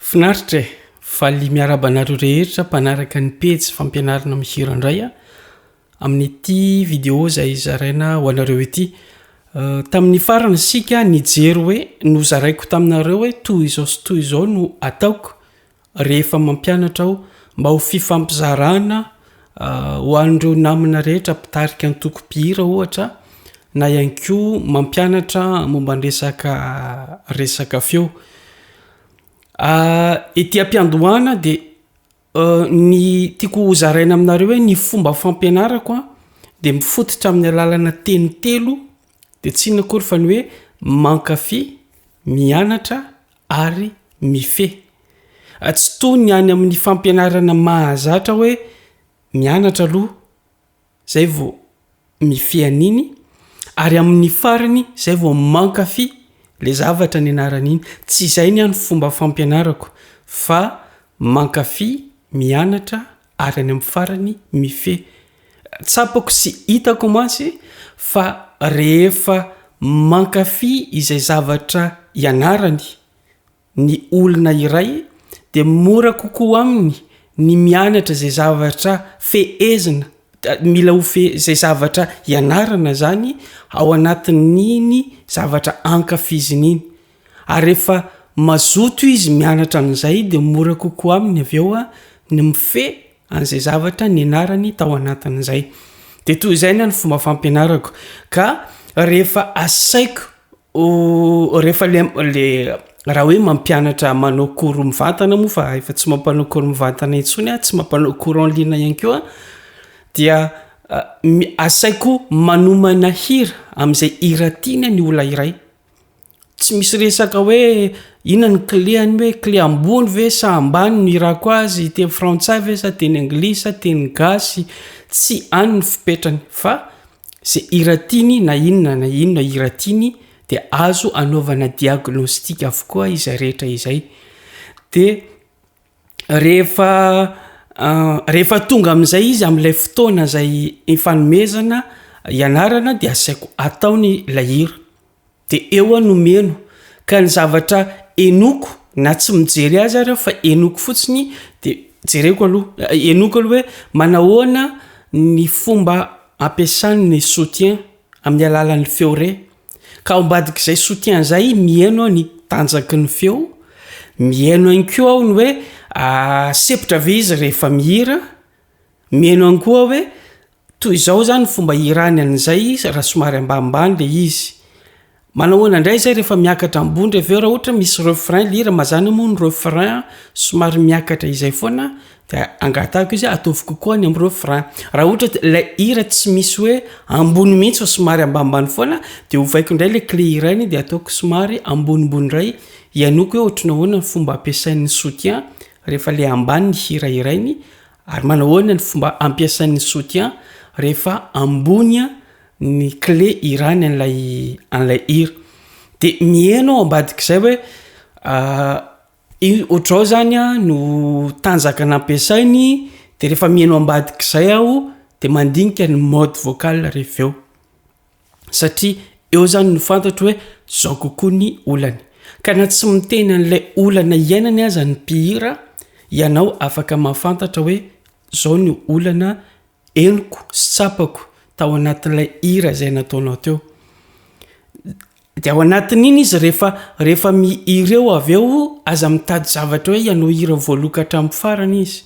Finaritra e! Valy miarahaba anareo rehetra mpanaraka ny pejy fampianarana mihira indray aho amin'ity video izay zaraina ho anareo ity. Euh, tamin'ny farany isika nijery hoe nozaraiko taminareo hoe toy izao sy toy izao no ataoko Rehefa mampianatra aho mba ho fifampizarana ho an'ireo namana rehetra mpitarika antoko mpihira ohatra na ihany koa mampianatra momba ny resaka resaka feo. Ety am-piandohana dia ny tiako ho zaraina aminareo hoe ny fomba fampianarako a dia mifototra amin'ny alalana teny telo de tsy inona akory fa ny hoe mankafy, mianatra. ary mifehy. Tsy toy ny any amin'ny fampianarana mahazatra hoe mianatra aloha izay vao mifehy an'iny ary amin'ny farany izay vao mankafy ilay zavatra nianarana iny. Tsy izay ny an'ny fomba fampianarako fa mankafy mianatra Ary any amin'ny farany mifehy. Tsapako sy hitako mantsy fa rehefa mankafy izay zavatra ianarany ny olona iray dia mora kokoa aminy ny mianatra izay zavatra fehezina, mila ho fe, izay zavatra ianarana izany ao anatin'iny zavatra ankafiziny iny. Ary rehefa mazoto izy mianatra an'izay dia mora kokoa aminy avy eo ny mifehy an'izay zavatra nianarany tao anatin'izay. Dia toy izay ny fomba fampianarako ka rehefa asaiko rehefa le raha hoe mampianatra manao cours mivantana moa fa efa tsy mampanao cours mivantana intsony aho, tsy mampanao cours en ligne ihany koa dia asaiko manomana hira amin'izay hira tiany ny olona iray. Tsy misy resaka hoe inona ny kle any hoe kle ambony ve sa ambany no irako azy teny frantsay ve sa teny anglisy sa teny gasy tsy any ny fipetrany fa ze iratiany na inona na inona iratiany de azo anaovana diagnostika avokoa izay rehetra izay de Rehefa tonga amin'izay izy amin'ilay fotoana izay ifanomezana ianarana dia asaiko ataony ilay hira de eo aho no mihaino ka ny zavatra henoko na tsy mijery azy ary aho fa henoko fotsiny de jereko aloha henoko aloha hoe manahoana ny fomba ampiasany ny soutien amin'ny alalan'ny feo re. Ka ao ambadik'izay soutien zay mihaino aho ny tanjaky ny feo, mihaino ihany koa aho ny hoe sepotra ve izy rehefa mihira, mihaino ihany koa aho hoe toy izao zany ny fomba ihirany an'izay izy raha somary ambanimbany le izy. Manao ahoana indray zay rehefa miakatra ambony ndray avy eo raha ohatra misy refrain le hira mazana moa ny refrain somary miakatra izay foana Dia angatahiko izy hoe ataovy kokoa any amin'ireo frein. Raha ohatra hoe ilay hira tsy misy hoe ambony mihitsy fa somary ambanimbany foana dia ovaiko indray ilay clé hira iny dia ataoko somary ambonimbony indray hihainoako hoe ohatry ny ahoana ny fomba ampiasain'ny soutien rehefa ilay ambany ny hira hirainy ary manao ahoana ny fomba ampiasain'ny soutien rehefa ambony ny clé hirany an'ilay an'ilay hira. Dia miheno ao ambadik'izay hoe Ohatrao zany a no tanjaka nampiasainy de refa mihaino ambadik'izay aho de mandinika ny mode vocal rehefa eo satria eo zany no fantatro hoe zao kokoa ny olany ka na tsy miteny an'ilay olana iainany aza ny mpihira ianao afaka mahafantatra hoe zao ny olana Henoko sy tsapako tao anatin'ilay hira izay nataonao teo. Dia ao anatin'iny izy rehefa, rehefa mihira eo avy eo, aza mitady zavatra hoe ianao hira voaloka hatramin'ny farany izy.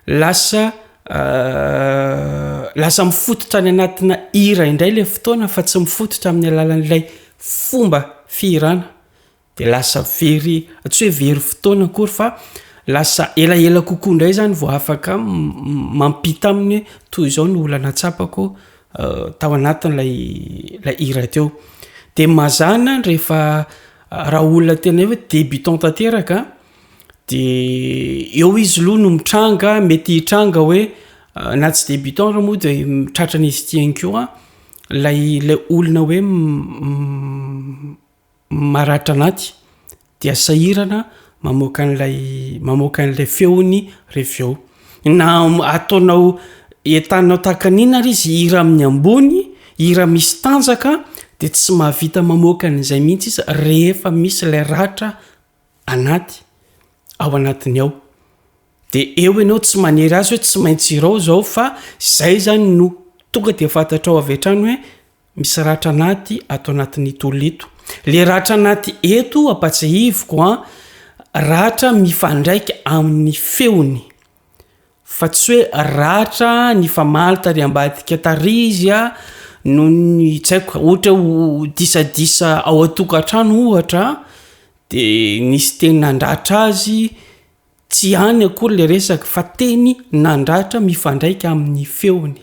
Lasa, lasa mifototra any anatina hira indray ilay fotoana fa tsy mifototra amin'ny alalan'ilay fomba fihirana. dia lasa very, tsy hoe very fotoana akory fa lasa elaela kokoa indray izany vao afaka mampita aminy hoe toy izao ny olana tsapako tao anatin'ilay ilay hira teo. Dia mazàna rehefa raha olona tena hoe débutant tanteraka dia eo izy aloha no mitranga, mety hitranga hoe na tsy débutant ary moa dia tratran'izy ity ihany koa ilay ilay olona hoe maratra anaty dia sahirana mamoaka an'ilay mamoaka an'ilay feony reveo na ataonao entanao takanina ary izy hira amin'ny ambony hira misy tanjaka dia tsy mahavita mamoaka an'izay mihitsy izy rehefa misy ilay ratra anaty ao anatiny ao de eo ianao tsy manery azy hoe tsy maintsy irao zao fa zay zany no tonga de fantatrao avy hatrany hoe Misy ratra anaty ato anatin'ito olona ito. Le ratra anaty eto ampatsahiviko an, ratra mifandraika amin'ny feony fa tsy hoe ratra nifamaly tary ambadika tary izy a, noho ny tsy haiko ohatra ho disadisa ao an-tokantrano ohatra de nisy teny nandratra azy Tsy any akory ilay resaka fa teny nandratra mifandraika amin'ny feony.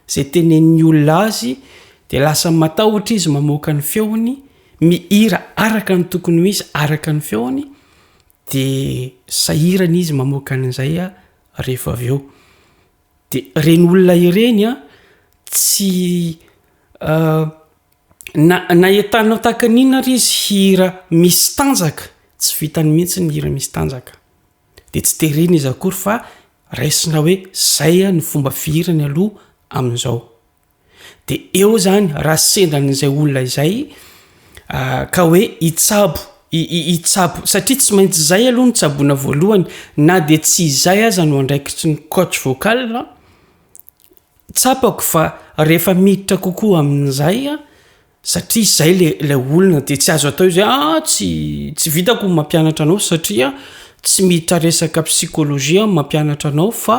Izay tenenin'ny olona azy dia lasa matahotra izy mamoaka ny feony, mihira araka ny tokony ho izy araka ny feony dia sahirana izy mamoaka an'izay rehefa avy eo. Dia ireny olona ireny tsy Na na entanao tahaka ny inona ary izy hira misy tanjaka tsy vitany mihitsy ny hira misy tanjaka de tsy terena izy akory fa raisina hoe zay a ny fomba fihirany aloha amin'izao de eo zany raha sendra an'izay olona izay ka hoe hitsabo hitsabo satria tsy maintsy zay aloha ny tsaboina voalohany na de tsy izay aza no andraikitry ny coach vocal Tsapako fa rehefa miditra kokoa amin'izay aho, satria izay le ilay olona dia tsy azo atao izay ah tsy tsy vitako ny mampianatra anao satria tsy miditra resaka psychologie aho mampianatra anao fa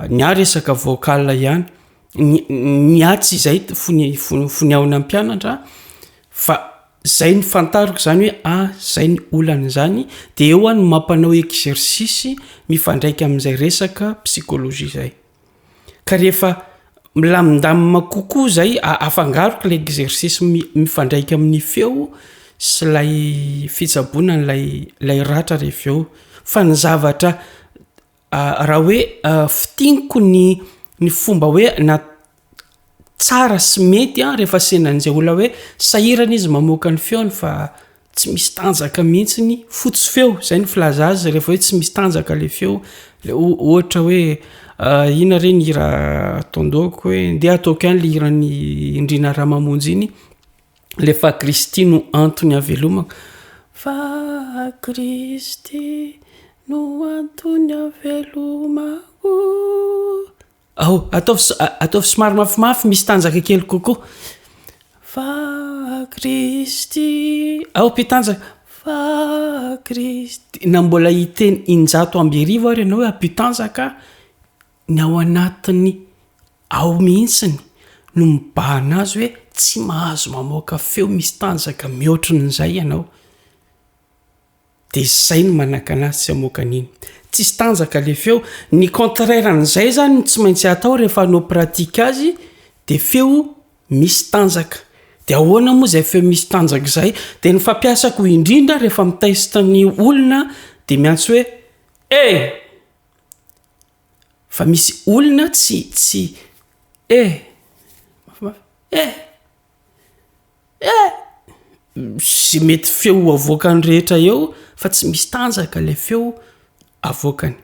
ny ahy resaka vocal ihany. Ny ny ahy tsy izay ny fony fony fony ahona hampianatra fa izay no fantariko izany hoe ah izay no olana izany dia eo aho no mampanao exercice mifandraika amin'izay resaka psychologie izay. ka rehefa milamindamina kokoa zay afangaroko le exercice mifandraika amin'ny feo sy lay fitsaboana n'lay lay ratra rehefa eo fa ny zavatra raha hoe fitiniko ny ny fomba hoe na tsara sy mety an rehefa sendran'izay olona hoe sahirana izy mamoaka ny feony fa tsy misy tanjaka mihitsy ny fotsy feo izay ny filaza azy rehefa hoe tsy misy tanjaka le feo le ohatra hoe ah, ina re ny hira ataondohako hoe ndeha ataoko ihany le hiran'ny indrina raha mamonjy iny le fa kristy no antony avelomako fa kristy no antony avelomako Ao, ataovy so, ataovy somary mafimafy, misy tanjaka kely kokoa. Fa Kristy, ao mpitanjaka, fa Kristy. Na mbola hiteny injato amby arivo ary ianao hoe mpitanjaka, ny ao anatiny ao mihitsiny no mibahana azy hoe tsy mahazo mamoaka feo misy tanjaka mihoatrin'izay ianao. Dia zay no manakana azy tsy hamoaka an'iny. Tsisy tanjaka le feo. Ny contraire an'izay zany no tsy maintsy atao rehefa hanao pratique azy dia feo misy tanjaka. Dia ahoana moa izay feo misy tanjaka izay? Dia ny fampiasako indrindra rehefa mi-test ny olona dia miantso hoe eh! Fa misy olona tsy tsy eh! Mafimafy eh! Eh! Ze mety feo avoakany rehetra eo fa tsy misy tanjaka le feo avoakany.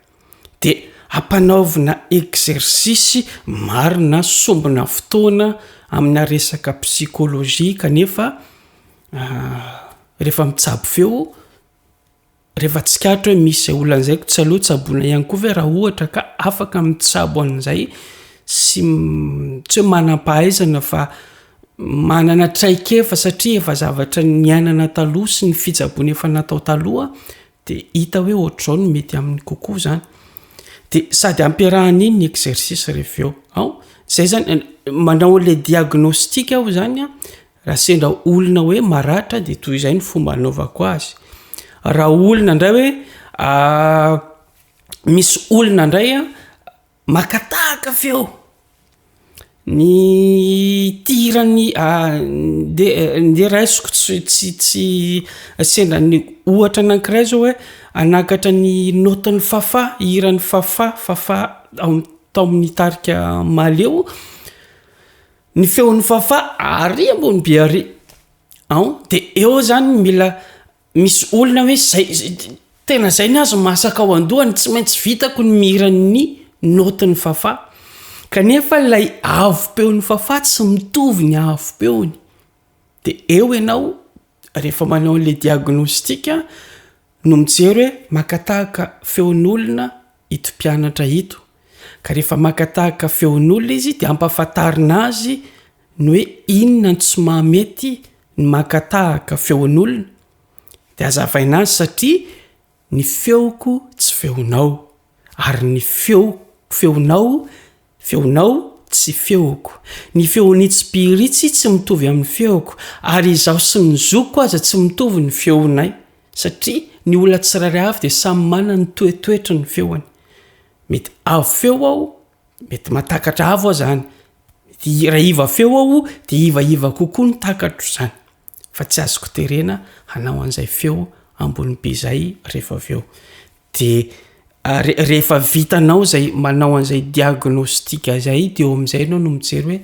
De ampanaovina exercice marina sombina fotoana amina resaka psychologie kanefa refa mitsabo feo. Rehefa tsikaritra hoe misy izay olana izay, tsy aleo tsaboina ihany koa ve raha ohatra ka afaka mitsabo an'izay sy tsy hoe manam-pahaizana fa manana traikefa satria efa zavatra niainana taloha sy ny fitsaboana efa natao taloha dia hita hoe ohatr'izao no mety aminy kokoa izany. Dia sady ampiarahan'iny ny exercice rehefa eo. Izay izany, manao an'ilay diagnostic aho izany an, Raha sendra olona hoe maratra dia toy izay ny fomba anaovako azy. Raha olona indray hoe ah, misy olona indray ah, makatahaka feo. Ny tirany ah, dia dia raisiko tsy tsy tsy sendra ny ohatra anankiray zao hoe anakatra ny note-n'i Fafà, hiran'i Fafà, Fafà tao amin'ny tarika Maleo. Ny feon'i Fafà àry ambonibe àry an! Dia eo izany mila misy olona hoe izay tena izay ny azy masaka ao an-dohany, tsy maintsy vitako ny mihira ny naotin'i Fafà. Kanefa ilay avo-peon'i Fafà tsy mitovy ny avo-peony. Dia eo ianao Rehefa manao an'ilay diagnostic no mijery hoe maka tahaka feon'olona ito mpianatra ito, ka rehefa maka tahaka feon'olona izy dia ampahafantarina azy ny hoe inona no tsy mahamety ny maka tahaka feon'olona, dia azavaina azy satria Ny feoko tsy feonao, ary ny feoko feonao, feonao tsy feoko. Ny feon'i Tsipiritsy tsy mitovy amin'ny feoko, ary izaho sy ny zokiko aza tsy mitovy ny feonay, satria ny olona tsirairay avy dia samy manana ny toetoetry ny feony. Mety avo feo aho, Mety mahatakatra avo aho zany. Mety hiraiva feo aho dia hivaiva kokoa ny takatro zany. Fa tsy azoko terena hanao an'izay feo ambony be zay rehefa avy eo. Dia rehefa vitanao zay manao an'izay diagnostic zay dia eo am'izay enao no mijery hoe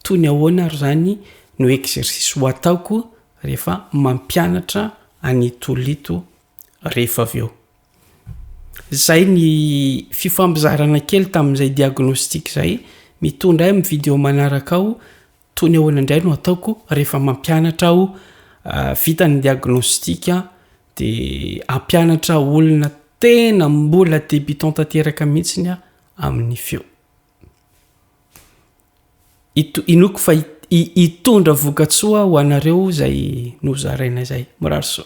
toy ny ahoana ary zany no exercice ho ataoko rehefa mampianatra an'ito olona ito rehefa avy eo. Zay ny fifampizarana kely tamin'izay diagnostic zay, mitondra ahy amin'ny video manaraka ao, toy ny ahoana indray no ataoko rehefa mampianatra aho, vita ny diagnostic de hampianatra olona tena mbola debutant tanteraka mihitsiny aho amin'ny feo. Ito- inoako fa hi- hitondra vokatsoa ho anareo zay nozarainay zay, mirary soa.